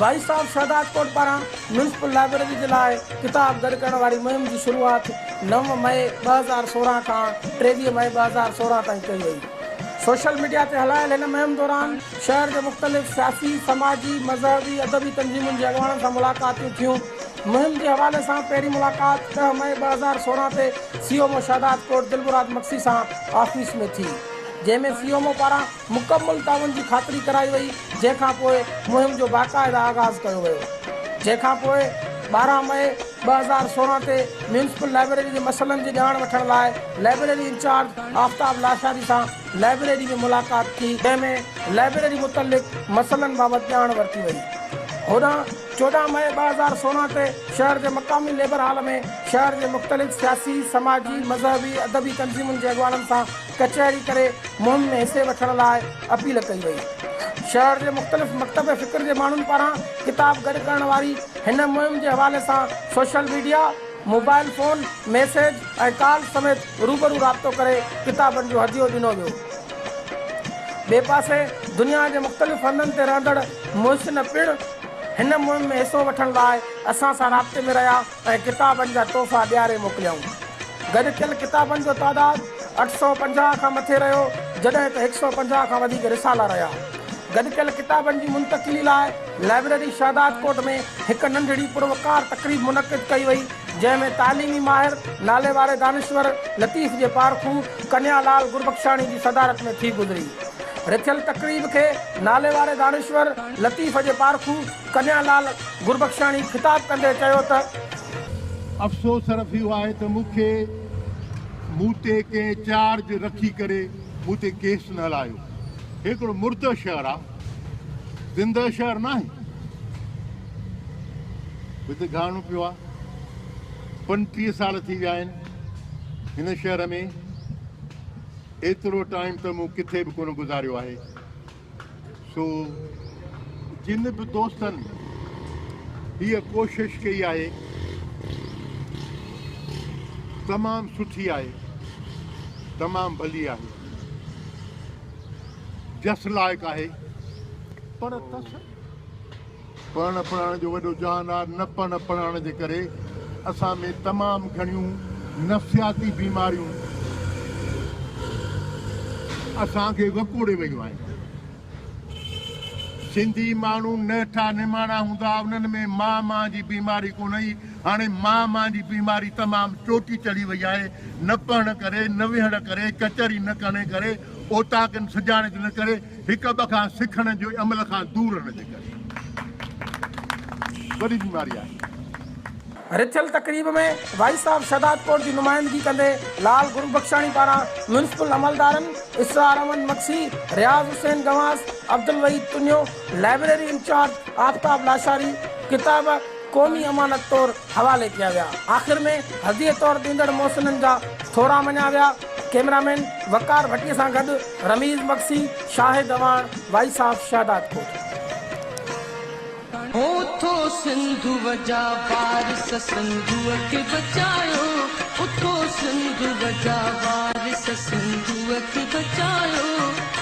Voice of Shahdadkot پاران municipal library جي لاء ڪتاب گڏ ڪرڻ واري مهم جي شروعات نو مئي ٻه هزار سورهن کان ٽيويهه مئي ٻه هزار سورهن تائين ڪئي وئي. سوشل ميڊيا تي هلايل هن مهم دوران شهر جي مختلف سياسي، سماجي، مذهبي، ادبي تنظيمن جي اڳواڻن سان ملاقاتيون ٿيون. مهم جي حوالي سان پهرين ملاقات ڏهه مئي ٻه هزار سورهن تي C M O Shahdadkot Dilmurad Magsi سان آفيس ۾ ٿي جنهن ۾ سي ايم او پاران مڪمل تعاون جي خاطري ڪرائي وئي جنهن کان پوء مهم جو باقاعده آغاز ڪيو ويو جنهن کان پوء ٻارهن مئي ٻه هزار سورهن تي ميونسپل لائبريري جي مسئلن جي ڄاڻ وٺڻ لاء لائبريري انچارج آفتاب لاشاري سان لائبريري ۾ ملاقات ٿي جنهن ۾ لائبريري متعلق مسئلن بابت ڄاڻ ورتي وئي هوڏانهن چوڏهن مئي ٻه هزار سورهن تي شهر جي مقامي ليبر هال ۾ شهر جي مختلف سياسي، سماجي، مذهبي، ادبي تنظيمن جي اڳواڻن سان ڪچهري ڪري مهم ۾ حصي وٺڻ لاء اپيل ڪئي وئي. شهر جي مختلف مڪتب فڪر جي ماڻهن پاران ڪتاب گڏ ڪرڻ واري هن مهم جي حوالي سان social media, mobile phone, message ۽ calls سميت روبرو رابطو ڪري ڪتابن جو هديو ڏنو ويو. ٻئي پاسي دنيا جي مختلف هنڌن تي رهندڙ محسن پڻ هن مهم ۾ حصو وٺڻ لاء اسان سان رابطي ۾ رهيا. ۽ ڪتابن جا تحفا ڏياري موڪليائون. گڏ ٿيل ڪتابن جو تعداد اٺ سؤ پنجاهه کان مٿي رهيو، جڏهن ته هڪ سؤ پنجاهه کان وڌيڪ رسالا رهيا. گڏ ڪيل ڪتابن جي منتقلي لاء لائبريري شهدادڪوٽ ۾ هڪ ننڍڙي پروقار تقريب منعقد ڪئي وئي، جنهن ۾ تعليمي ماهر، ناليواري دانشور، لطيف جي پارکو ڪنيا لال گربخشاڻي جي صدارت ۾ ٿي گذري. رٿيل تقريب کي ناليواري دانشور، لطيف جي پارکو، ڪنھيا لال گربخشاڻي خطاب ڪندي چيو ته. افسوس صرف اھو آھي ته مون کي مون تي ڪنھن چارج رکي ڪري مون تي ڪيس نه ھلايو. ھي ھڪڙو مردو شھر آ زندهه شهر ناهي هتي گهاڻو پيو آ پنٽيهه سال ٿي ويا آهن هن شهر ۾ ايترو ٽائيم ته مون ڪٿي به ڪونه گذاريو آهي سو جن به دوستن هيء ڪوشش ڪئي آهي تمام سٺي آهي تمام ڀلي آهي جس لائق آهي پر پڙهڻ پڙهائڻ جو وڏو جهان آهي، نه پڙهڻ پڙهائڻ جي ڪري اسان ۾ تمام گهڻيون نفسياتي بيماريون اسان کي وڪوڙي ويون آهن. سنڌي ماڻهو نهٺا نماڻا هوندا ها، انهن ۾ مان مان جي بيماري ڪونه هئي، هاڻي مان مان جي بيماري تمام چوٽي چڙهي وئي آهي، نه پڙهڻ ڪري، نه ويهڻ ڪري، ڪچهري نه ڪرڻ ڪري، اوطاقن سجاڻت نه ڪري، هڪ ٻئي کان سکڻ جي عمل کان دور رهڻ جي ڪري وڏي بيماري آهي. رٿيل تقريب ۾ وائيس آف شهدادڪوٽ جي نمائندگي ڪندي لال گربخشاڻي پاران ميونسپل عملدارن اسرار احمد مگسي، رياض حسين گنواس، عبدالوحيد پنيو، لائبريري انچارج آفتاب لاشاري، ڪتاب. قومي امانت طور حوالي ڪيا ويا. آخر ۾ هديه طور ڏيندڙ محسنن جا ٿورا مڃيا ويا. ڪئميرامين وقار ڀٽي سان گڏ رميز مگسي، شاهد اعواڻ، وائس آف شهدادڪوٽ. هو ٿو سنڌوء جا وارث سنڌوء کي بچايو اٿو سنڌوء جا وارث سنڌوء کي بچايو.